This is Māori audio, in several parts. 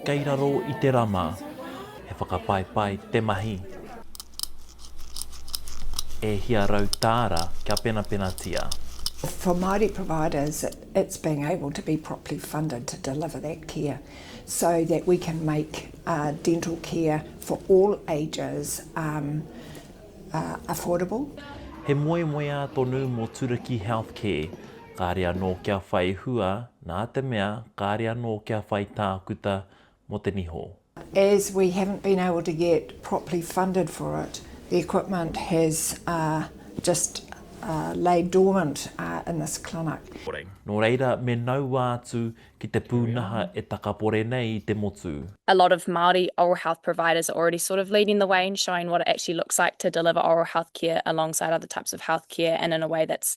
Kei raro i te rama. He whakapaepae te mahi. E hia rau tāra kia penapenatia. For Māori providers, it's being able to be properly funded to deliver that care so that we can make dental care for all ages affordable. He moemoeā tonu mō Turaki Healthcare, kāre anō kia whai hua Nā te mea kāre anō kia whai tākuta mō te niho. As we haven't been able to get properly funded for it, the equipment has just laid dormant in this clinic. Nō reira me naua atu ki te pūnaha e takapore nei i te motu. A lot of Māori oral health providers are already sort of leading the way and showing what it actually looks like to deliver oral health care alongside other types of health care and in a way that's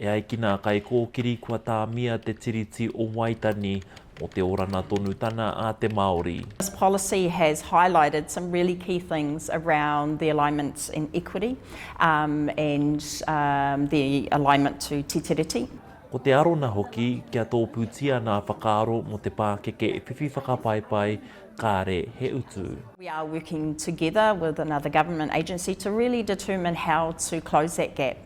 E ai ki nā kaikōkiri kua tāmia te Tiriti o Waitangi mō te oranga tonutanga a te Māori. This policy has highlighted some really key things around the alignment and equity and the alignment to Te Tiriti. Ko te arona hoki kia tōpūtia ngā whakaaro mō te pākeke whiwhi whakapaepae kāre he utu. We are working together with another government agency to really determine how to close that gap.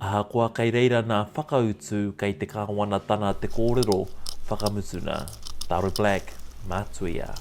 Ahakoa kei reira nā Whakautu kei te Kāwanatana te kōrero whakamutuna. Taro Black, mā Tuia.